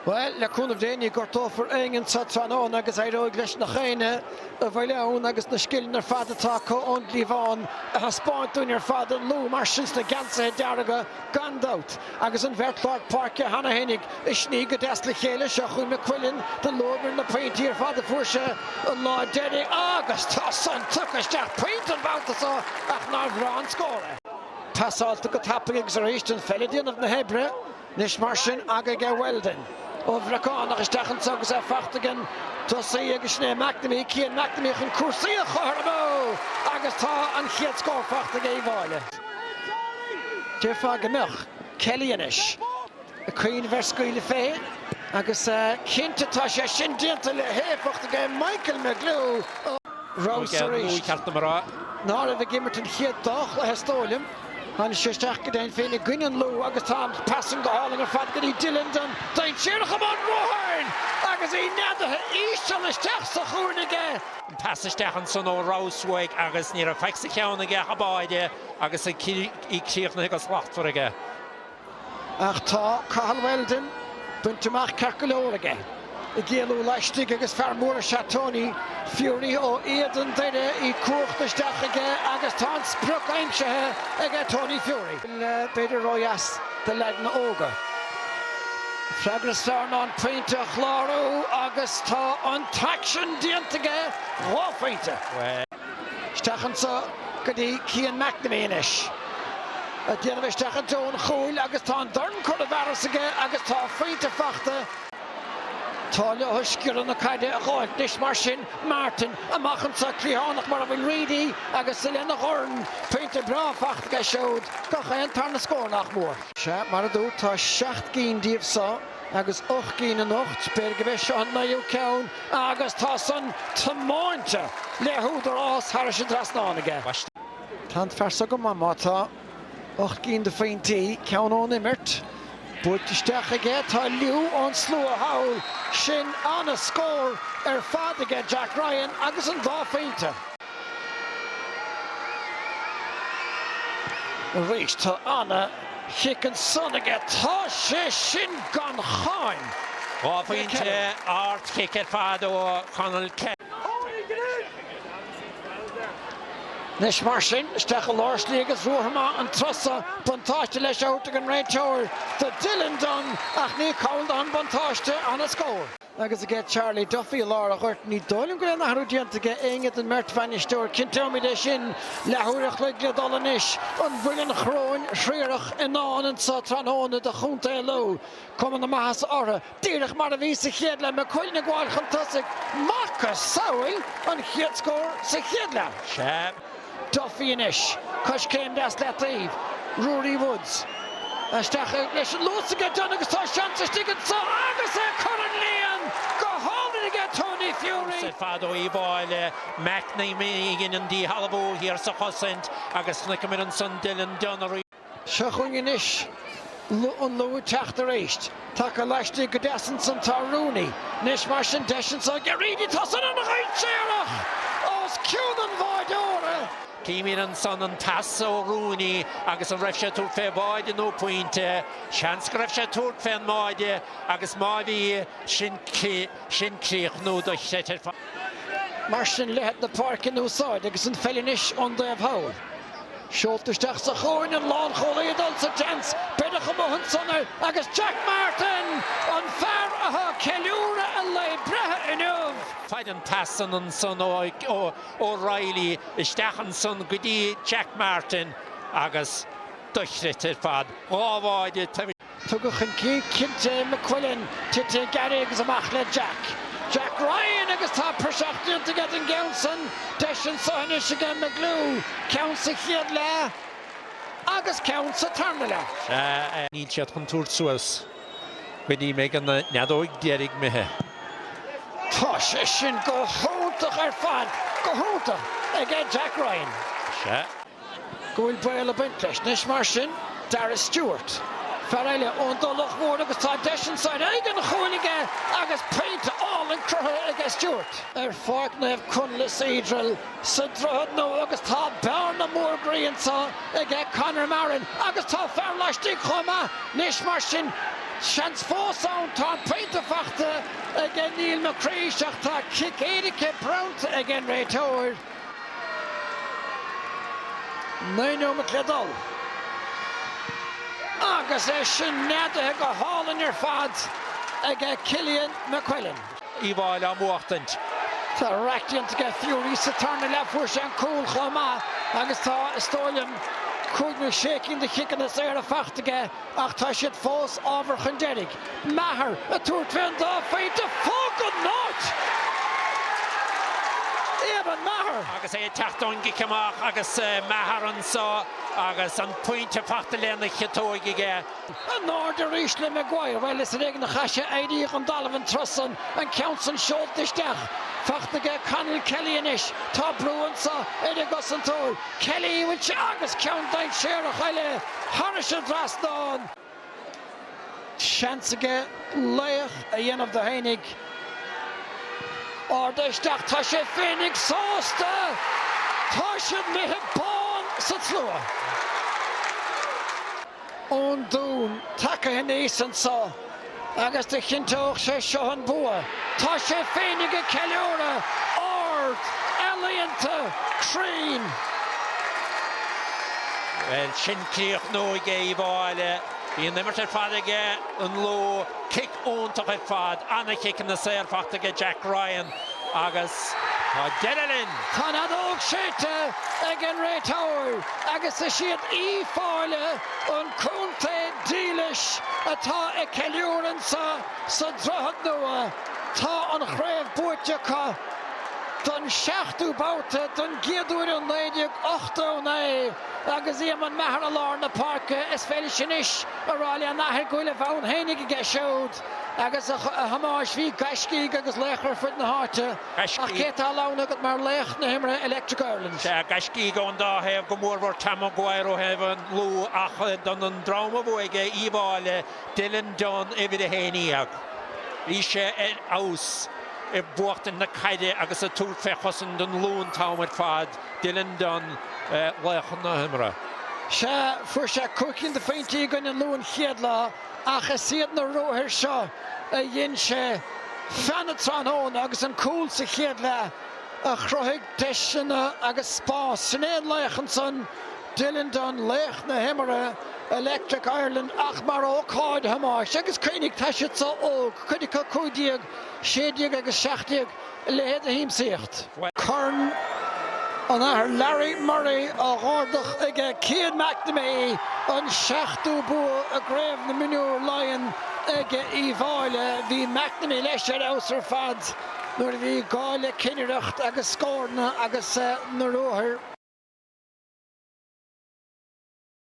Bhuel, le cúnamh Dé ní gortófar éinne anso tráthnóna agus éireoidh leis gach éinne a bhfuil ann agus na scileanna ar fad atá acu ón gcliabhán a thaispeáint dúinn ar fad an Lú mar sin sna geansaithe dearga gan dabht agus an bheirt lár páirce cheana féinig ag sní go deas le chéile seo chugainn McQuillan do luamair na pointí ar fad a fuair sé an lá deiridh agus tá san tugtha isteach pointe an babhta so ach nár bhreá an scór é. Pasáilte go tapaidh agus arís an pheil ag déanamh na hoibre. Anois mar sin aige Weldon. Ó Bhreacánach isteach anso agus é fachta ag an tosaí agus sin é McNamee, Cian McNamee chun cúrsaí a chothromú agus tá an chéad scór fachta ag Uíbh Fhailí. Déarfá go mbeadh Kelly anois ag cuimhneamh ar scaoileadh fé agus cinnte tá sé sin déanta le héifeacht aige Michael McGlew. Rouse arís. Ná raibh ag imirt an chéad dá chluiche is dóigh liom. Tháinig sé isteach go deimhin féin i gcoinne an Lú agus tá an pas san go hálainn ar fad go dtí Dylan Dunne, dainséarach i mbun ruathair agus í neadaithe íseal isteach sa chúinne aige. An pas isteach ansan ó Rouse uaidh agus ní raibh faic sa cheann aige ach an báide agus í críochnaithe go slachtmhar aige. Ach tá Cathal Weldon, bainte amach ceart go leor aige, ag éalú laistigh agus fear mór is ea Tony Furey ó Éadan Doire. Í cuachta isteach aige agus tá an sprioc aimsithe ag Tony Furey. B'fhéidir ródheas do leaideanna óga. Freagra is fearr ná an pointe a chlárú agus tá an t-aicsean déanta aige, dhá phointe. Isteach anso go dtí Cian McNamee anois. Ag déanamh isteach i dtreo an chúil agus tá an dorn curtha i bhfearas aige agus tá a phointe fachta. Tá leo stiúradh na caide a dh'fháilt anois mar sin. Martin amach anso, cliathánach mar a bhfuil Reidy agus lena dhorn. Pointe breá fachta aige siúd. Gach aon tarna scór nach mór. Sea, mar a dúirt, tá seacht gcinn díobh so. Agus ocht gcinn anocht, b'fhéidir gurb é seo an naoú ceann agus tá san tiomáinte le húdarás thairis an trasnán aige. Tá an fear so go maith má tá ocht gcinn de phointí, ceann ón imirt, buailte isteach aige. Tá liú ón slua thall. Sin ana-scór ar fad aige Jack Ryan agus an dá phointe. Arís tá ana chic ansan aige. Tá sé sin gan cháim! Dhá phointe ard chic ar fad ó Connell Kelly. Anois mar sin, isteach i lár slí agus ruathar maith an turas so. Buntáiste leis á thabhairt ag an réiteoir do Dylan Dunne ach ní call dó an buntáiste ana-scór. Agus aige Charlie Duffy i lár an ghoirt. Ní dóigh liom go raibh aon athrú déanta aige éinne den mbeirt bhainisteoir. Cinnteoimid é sin. Leath uair a chloig le dul anois. An bhfuil an Choróin Thriarach i ndán anseo tráthnóna do Chontae Lú? Cuma na maitheasa orthu. Díreach mar a bhí sa chéad leath. McQuillan ag gabháil chun tosaigh. Macasamhail an chéad scór sa chéad leath. Sea. Duffy anois. Coiscéim deas le taobh. Ruairí Woods. Isteach leis an luas aige Dunne agus tá seans istigh anseo agus é curtha an líon go hálainn aige Tony Furey. Seans ar fad ó Uíbh Fhailí. McNamee a dhein an díshealbhú thiar sa chosaint agus chonaiceamar ansan Dylan Dunne arís. Seo chugainn anois an Lú ag teacht aríst taca laistigh go deas ansan tá Rooney. Anois mar sin deis anso aige Reedy tá san ana-dhainséarach os cionn an bháideora. Chímid ansan an t-eas ó Rooney agus an raibh sé ag tabhairt fé bháide nó pointe. Seans go raibh sé ag tabhairt fén mbáide agus má bhí sin críochnú dochreidte ar fad. Mar sin leithead na páirce in úsáid agus an pheil anois ón dtaobh thall. Seolta isteach sa chúinne, an lánchúlaí ag dul sa tseans, beireadh amuigh ansan é agus Jack Martin, an fear atá ag ceiliúradh a lae breithe inniu, faid an tsasain ansan ó O'Reilly isteach ansan go dtí Jack Martin agus dochreidte ar fad, dhá bháide. Tugadh chun cinn cinnte é McQuillan, tite gairid agus amach le Jack. Jack Ryan agus tá praiseach déanta aige den gceann san. Deis anso anois aige McGlue, ceann sa chéad leath agus ceann sa tarna leath. Sea, níl siad chun tabhairt suas go dtí mbeidh an fheadóig deiridh imithe. Tá sé sin go hiontach ar fad, go hiontach, aige Jack Ryan. go bhfuil baol ag baint leis. Anois mar sin, Darragh Stewart, fear eile ón dTulach Mhór agus tá deis anso ar aghaidh an chúil aige agus pointe álainn cruthaithe aige Stewart. ar Pháirc Naomh Conlaith Cedral sa Droichead Nua agus tá bearna mór groí anso aige Conor Marrin agus tá fear laistigh chomh maith. Anois mar sin, seans fós ann, tá an pointe faighte aige Neil McCreesh ach tá cic éirice bronnta ag an réiteoir. Naoi nóimeat le dul. Agus é sin neadaithe go hálainn ar fad aige Cillian McQuillan. Uíbh Fhailí á mbuachtaint. Tá raic déanta aige Furey sa tarna leath. Fuair sé an cúl chomh maith agus tá, is dóigh liom, cúig nó sé cinn de chiceanna saora faighte aige ach tá siad fós ábhar chun deiridh. Maher ag tabhairt fén dá phointe fág an áit! Éamonn Maher! Agus é ag teacht ón gcic amach agus Maher anso agus an pointe fachta lena chiotóg aige. An aird arís le Maguire, bhuel is ar éigean a chaith sé éirí ón dtalamh an turas san, an ceann san seolta isteach. Fachta aige Conall Kelly anois, tá brú anso ar an gcosantóir, Kelly, bhuel, sea, agus ceann dainséarach eile thairis an dtrasnán. Seans aige laoch a dhéanamh de fhéinig. Ard isteach, tá sé féinig sásta! Tá siad imithe bán sa tslua. Ón Dún, tagaithe aníos anseo. Agus do chinnteodh sé seo an bua. Tá sé féinig ag ceiliúradh! Ard! Ealaíonta! Cruinn! Bhuel, sin críochnú aige Uíbh Fhailí. Bhí an imirt ar fad aige an Lú, cic iontach ar fad, na ciceanna saor fachta aige Jack Ryan. Agus tá deireadh linn! Tá an fheadóg séidte ag an réiteoir agus is iad Uíbh Fhailí, An Contae Dílis atá ag ceiliúradh anseo sa Droichead Nua. Tá an chraobh buaite acu don seachtú babhta, don gcéad uair ó 1989 agus Eamonn Maher i lár na páirce. Is féidir anois a rá lena athair go bhfuil a bhonn fhéinig aige siúd. Agus a Thomáis, bhí gaiscígh agus laochra ar fud na háite, ach cé tá a lán agat mar laoch na himeartha Electric Ireland? Sea, gaiscígh ón dá thaobh, go mórmhór Tom Maguire ó thaobh an Lú, ach d'fhan an dream a bhuaigh é, Uíbh Fhailí, Dylan Dunne, uimhir a haon dhéag. Bhí sé ar fheabhas i mbuachtaint na caide agus ag tabhairt fé chosaint an Lú an t-am ar fad, Dylan Dunne, laoch na himeartha. Sea, fuair sé cúig cinn de phointí i gcoinne an Lú an chéad lá, Ach is iad na ruathair seo a dhein sé feadh na tráthnóna agus an cúl sa chéad leath a chruthaigh deiseanna agus spás. Sin é an laoch ansan, Dylan Dunne, laoch na himeartha Electric Ireland ach mar ócáid, a Thomáis. Agus cuimhnigh, tá siad so óg, cuid acu 15, 16 agus 17, A leithéid de shiamsaíocht! Corn an Athar Larry Murray á dh'ardach aige Cian McNamee, an seachtú bua i gCraobh na Mionúr Laighean aige Uíbh Fhailí. Bhí McNamee leis ar fheabhas ar fad nuair a bhí gá le cinnireacht agus scóranna agus na ruathair.